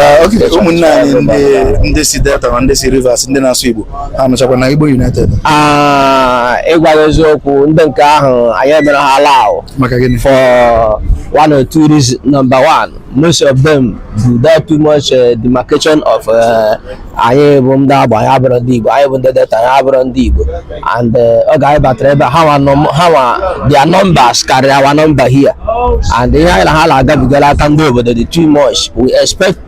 Ah, okay ụmụnna anyị ndị ndị si delta na ndị si rivers ndị na-asụ igbo ha nọchakwa na igbo united Ah, ịgwa gị eziokwu ndị nke ahụ anyị emerọ ha allow maka gịnị for one or two reasons. Number one, most of them do that too much uh, demarcation of uh, anyị bụ ndị Agbor anyị abụrọ ndị Igbo anyị bụ ndị delta anyị abụrọ ndị Igbo and eh, oge anyị batara ebe a, ha nwa nọ- ha nwa their numbers karịrị our number here and ihe anyị na ha na-agabiga n'aka ndị obodo dị too much we expect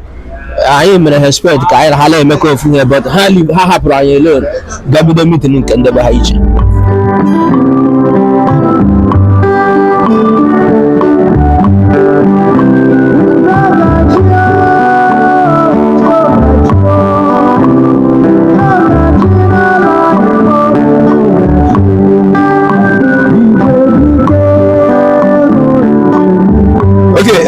anyị mere ha expect ka anyị na ha na-emekọ ofu ihe but ha leave- ha hapụrụ anyị alone gaa bido meeting nke ndị be ha iche okay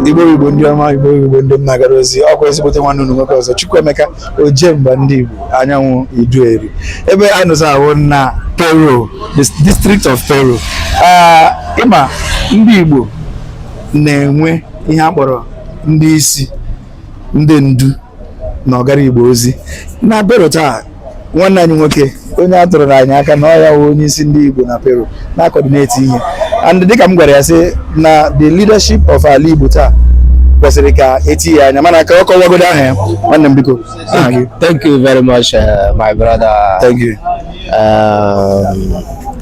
igbo igbo ndị ọma igbo igbo ndị m na-agara ozi ọkwa ezigbote nwanne unu nwoke ọzọ Chukwuemeka Ojemba ndị Igbo anyanwụ Iduu Eri ebe a nọzi a wụ na Parow the district of Parow ị ma ndị Igbo na-enwe ihe a kpọrọ ndị isi ndị ndu na ọ gara Igbo ozi na Parow taa nwanne anyị nwoke onye a tụrụ anyị aka na ọ ya wụ onye isi ndị Igbo na Parow na-akọdineti ihe and dịka m gwara ya sị na the leadership of ala Igbo taa kwesịrị ka e tinye anya mana ka ọ kọwagodo aha ya nwanne m biko thank you very much uh, my brother thank you um,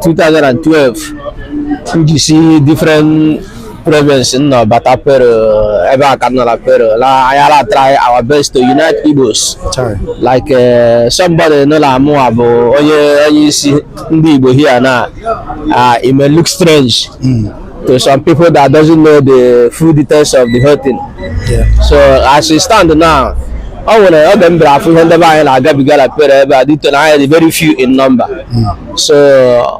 2012 m ji si different province nọ bata Parow ebe a ka m nọ la Parow la anyị ala try our best to unite igbos Chai. like uh, somebody nụ na mụwa bụ onye onye isi ndị igbo here na uh, it may look strange to some people that doesn't know the full details of the whole thing Yeah. so as we stand now ọ nwere oge m bịara afụ ihe ndị be anyị na-agabiga na Parow ebe a due to na anyị dị very few in number so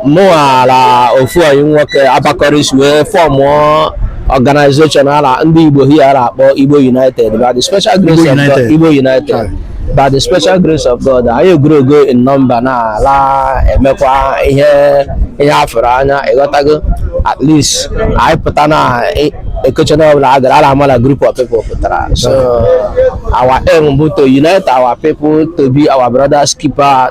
mụwa la ofu ọyị nwoke abakọrịs wee fọmụọ organization ala ndị igbo here a la-akpọ igbo united by the special grace Igbo of god United. igbo united by the special grace of god anyị egrowgo in number na a la-emekwa ihe ihe a fụrụ anya ị ghọtago at least anyị pụta na e- occasion ọbụla a gara a la-ama la group of people pụtara so our aim bụ to unite our people to be our brothers keeper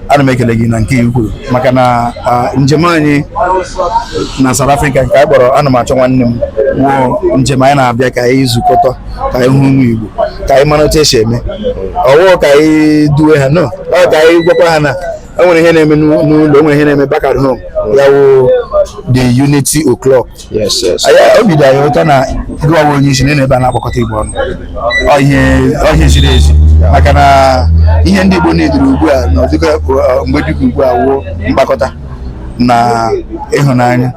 ana m ekele gị na nke i kwuru maka na njem anyị na South Africa nke anyị kpọrọ ana m achọ nwanne m wụ njem anyị na-abịa ka anyị zukọta ka anyị hụ ụmụ Igbo ka anyị mara otu e si eme ọ wụụ ka anyị duwe ha no ọ ka anyị gwakwa ha na enwere ihe na-eme n'ụlọ enwere ihe na-eme back at home ya wụ the unity o'clock obi dị anyị ụtọ na gịwa wụ onye isi na ebe a na-akpọkọta Igbo ọnụ ihe ziri ezi maka na ihe ndị Igbo needuru ugbu a na ọdịka uh, mgbe dịka ugbu a wụ mkpakọta na ịhụnanya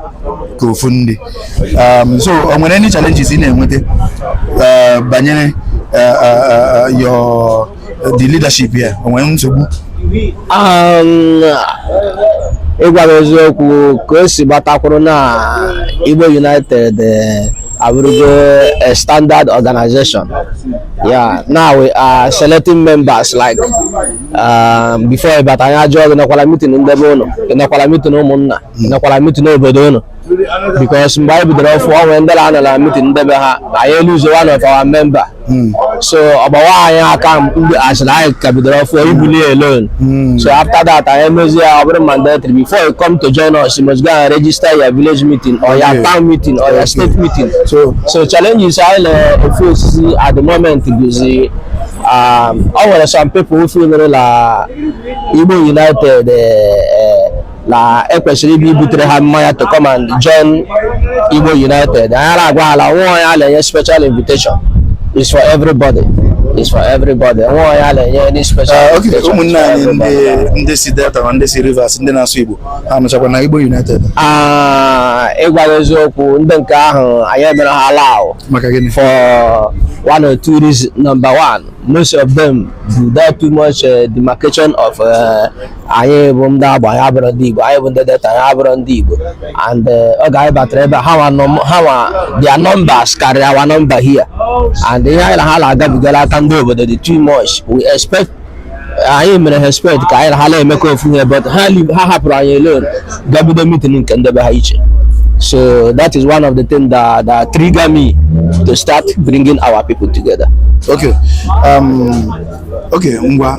ka ofu ndị um, so o nwere any challenges ị na-enweta uh, banyere uh, your uh, the leadership here o nwere nsogbu Um, ịgwara eziokwu ka o si gbata kwụrụ na Igbo United eh, abụrụgo a standard organization yeah now we are selecting members like um, before ị bata anyị ajụọ gị nọkwala meeting ndị be unu ị nọkwala meeting ụmụnna nọkwala meeting n'obodo unu because mgbe anyị bidoro ọfụ ọ nwere ndị na-anọ na meeting ndị be ha na anyị elose one of our member hmm. so ọ gbawa anyị aka mgbe a sịrị anyị ka bidoro ọfụ ibuli alone hmm. so after that anyị emezi ya ọ bụrụ mandatory before you come to join us you must go and register your village meeting or your town meeting or your state meeting so challenges anyị na-eface at the moment bụzi um, ọ nwere some people who feel like Igbo United eh, na ekwesịrị ịbịa ibutere ha mmanya to come and join Igbo United anyị agwa ha la nwa onye a na-enye special invitation is for everybody is for everybody nwa onye a na-enye any special ah, invitation ụmụnne anyị ndị si Delta na ndị si Rivers ndị na-asụ Igbo ha nọchakwa na Igbo United ah, ịgwa eziokwu ndị nke ahụ anyị emerọ ha allow maka gịnị for one or two reasons number one most of them do that too much uh, demarcation of uh, anyị bụ ndị Agbor anyị abụrọ ndị Igbo anyị bụ ndị Delta anyị abụrọ ndị Igbo and eh, oge anyị batara ebe a nwa their numbers karịrị our number here and ihe anyị na ha na-agabiga n'aka ndị obodo dị too much we expect anyị mere expect ka anyị na ha na-emekọ ofu ihe but ha hapụrụ anyị alone ga bido meeting nke ndị be ha iche so that is one of the things that, that trigger me to start bringing our people together okay um, okay ngwa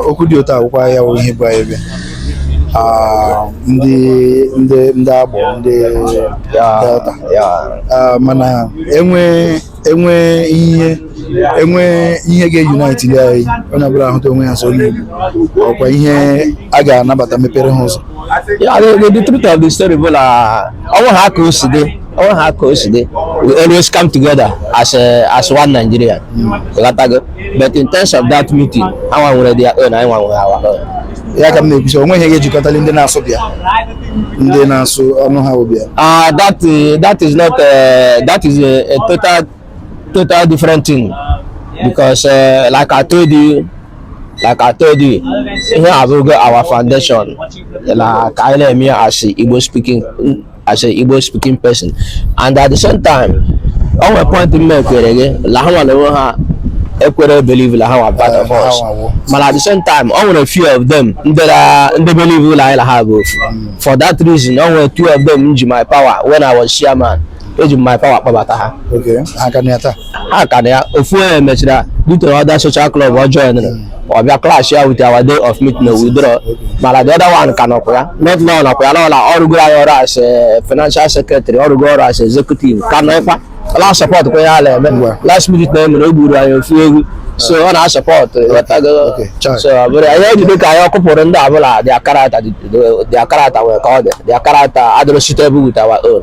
okwu dị otu akwụkwọ ya bụ ihe bụ anyị bịa ndị ndị ndị Agbor ndị Delta mana enwe enwe ihe enwe ihe ga-eunite ndị anyị onye ọbụla ahụta onwe ya as onye Igbo ọkwa ihe a ga-anabata mepere ha ụzọ yeah the truth of the story bụ na ọnwụ ha ka o si dị ọnwụ ha ka o si dị we always come together as as one Nigeria. but in terms of that meeting ha nwa nwere their own anyị nwa nwe our own ya ka m na-ekwu sị o nweghị ihe ga-ejikọtali ndị na-asụ bịa ndị na-asụ ọnụ ha bụ bịa ah that eh, that is not eh, that is a, a total total different thing because eh, like I told you like I told you ihe abụgo our foundation na ka anyị na-eme ya as Igbo speaking as an Igbo speaking person and at the same time o nwere point m ekwere gị la ha nwere onwe ha ekwere believe la ha wụ part of us mana at the same time o nwere few of them ndị ra- ndị believe la anyị la ha bụ ofu for that reason o nwere two of them m ji my power when I was chairman eji m my power kpọbata ha Okay, ha ka nọ ya taa. ha ka nọ ya ofu onye mechara due to other social club ọ joinere ọ bịa clash ya with our day of meeting na withdraw mana the other one ka nọkwa ya not now nọkwa ya n'ọla ọ rụgoro anyị ọrụ as eh, financial secretary ọ rụgo ọrụ as executive ka nọ ịkwa la support kwa ya na-eme Ngwa. last meeting a e mere o gburu anyị ofu ewu so ọ na-asupport ghọtago okay, chai. so ọ bụrụ anyị ejide ka anyị ọkụpụrụ ndị ọbụla their character their character nwere ka ọ dị their character adịrọ suitable with our own